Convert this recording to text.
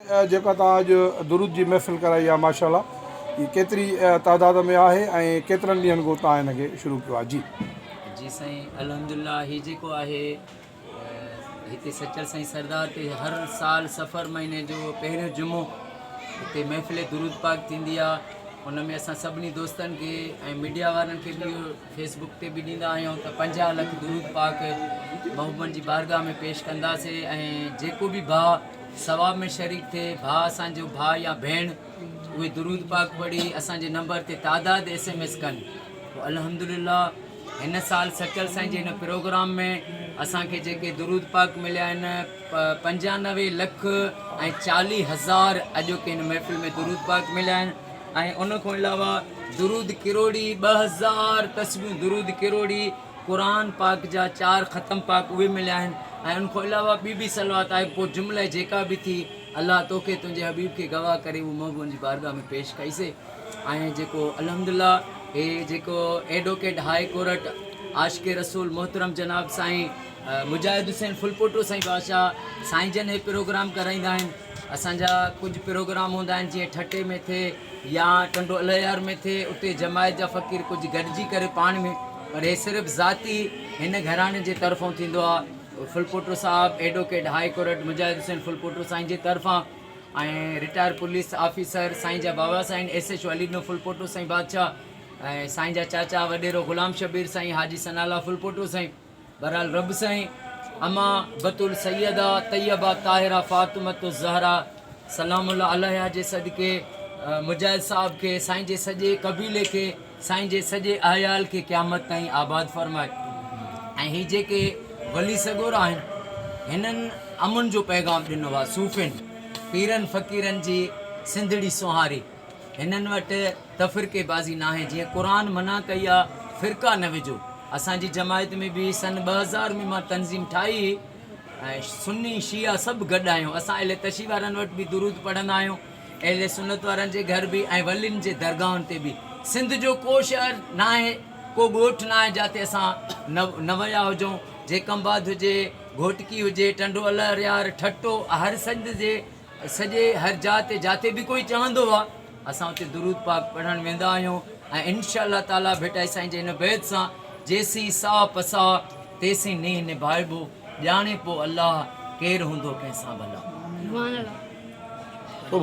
جيڪا توهان اڄ درود جي محفل ڪرائي آ ماشاءالله هي ڪيتري تعداد ۾ آهي ۽ ڪيترن ڏينهن کان توهان هن کي شروع ڪيو آهي جي. جي سائين الحمدلله هي جيڪو آهي هتي سچل سائين سردار تي هر سال سفر مهيني جو پهريون جمعو هتي محفل درود پاڪ ٿيندي آ ان ۾ اسان سڀني دوستن کي ۽ ميڊيا وارن کي به اهو فيس بڪ تي به ڏيندا آهيون ته پنجاهه لک درود پاڪ محبوبن جي بارگاهه ۾ پيش ڪنداسين ۽ جيڪو به ڀاء ثواب ۾ شريڪ ٿئي ڀاء اسان جو ڀاء يا ڀيڻ اهي درود پاڪ پڙهي اسان جي نمبر تي تعداد ايس ايم ايس ڪن پوء الحمدلله هن سال سچل سائين جي هن پروگرام ۾ اسان کي جيڪي درود پاڪ مليا آهن پنجانوي لک ۽ چاليهه هزار اڄوڪي هن محفل ۾ درود پاڪ مليا آهن ۽ ان کان علاوه درود ڪروڙي ٻه هزار تسبيحون درود ڪروڙي قرآن پاڪ جا چار ختم پاڪ اهي مليا آهن ۽ ان کان علاوه ٻي به صلوات آهي پوء جمله جيڪا به ٿي الله توکي تنهنجي حبيب کي گواهه ڪري اهو محبوبن جي بارگاهه ۾ پيش ڪئي سي ۽ جيڪو الحمدلله هي جيڪو advocate high court Ashiq Rasool محترم جناب سائين مجاهد حسين ڦلپوٽو سائين بادشاهه سائين جن هي پروگرام ڪرائيندا آهن اسان جا ڪجهه پروگرام هوندا آهن جيئن ٺٽي ۾ ٿئي يا ٽنڊو الهيار ۾ ٿئي اتي جماعت جا فقير ڪجهه گڏجي ڪري پاڻ ۾ پر هي صرف ذاتي هن گهراڻي جي طرفون ٿيندو آهي ڦلپوٽو صاحب advocate high court Mujahid Hussain Phulpoto سائين جي طرفان ۽ رٽائر پوليس آفيسر سائين جا بابا سائين S H O Ali Dino Phulpoto سائين بادشاهه ۽ سائين جا چاچا وڏيرو غلام شبير سائين حاجي ثناء الله ڦلپوٽو سائين بهرحال رب سائين اما بتول سيده طيبه طاهره فاطمه الزهرا سلام الله عليها جي صدقي مجاهد صاحب کي سائين جي سڄي قبيلي کي سائين جي سڄي احيال کي قيامت تائين آباد فرمائي ۽ هي جيڪي ولي سڳورا آهن هنن امن جو پيغام ڏنو آهي صوفين پيرن فقيرن جي سنڌڙي سونهاري هنن وٽ تفرقي بازي ناهي جيئن قرآن منع ڪئي آ فرقا نه وجهو اسان جي جماعت ۾ به سن ٻه هزار ۾ مان تنظيم ٺاهي هئي ۽ سني شيعا سڀ گڏ آهيون اسان اهل تشيع وارن وٽ به درود پڙهندا آهيون اهل سنت وارن جي گهر به ۽ ولين جي درگاهن تي به سنڌ جو ڪو شهر ناهي ڪو ڳوٺ ناهي جاتي اسان نه ويا هجون جيڪمباد هجي گهوٽڪي هجي ٽنڊو الهريار ٺٽو هر سنڌ جي سڄي هر جاء تي جاتي به ڪوئي چاهندو آ اسان اتي درود پاڪ پڙهڻ ويندا آهيون ۽ انشاء الله تعالي ڀٽائي سائين جي هن بيت سان جيسين ساهه پساهه تيسين نينهن نڀائبو ڄاڻي پو الله ڪير هوندو ڪنهن سان ڀلا.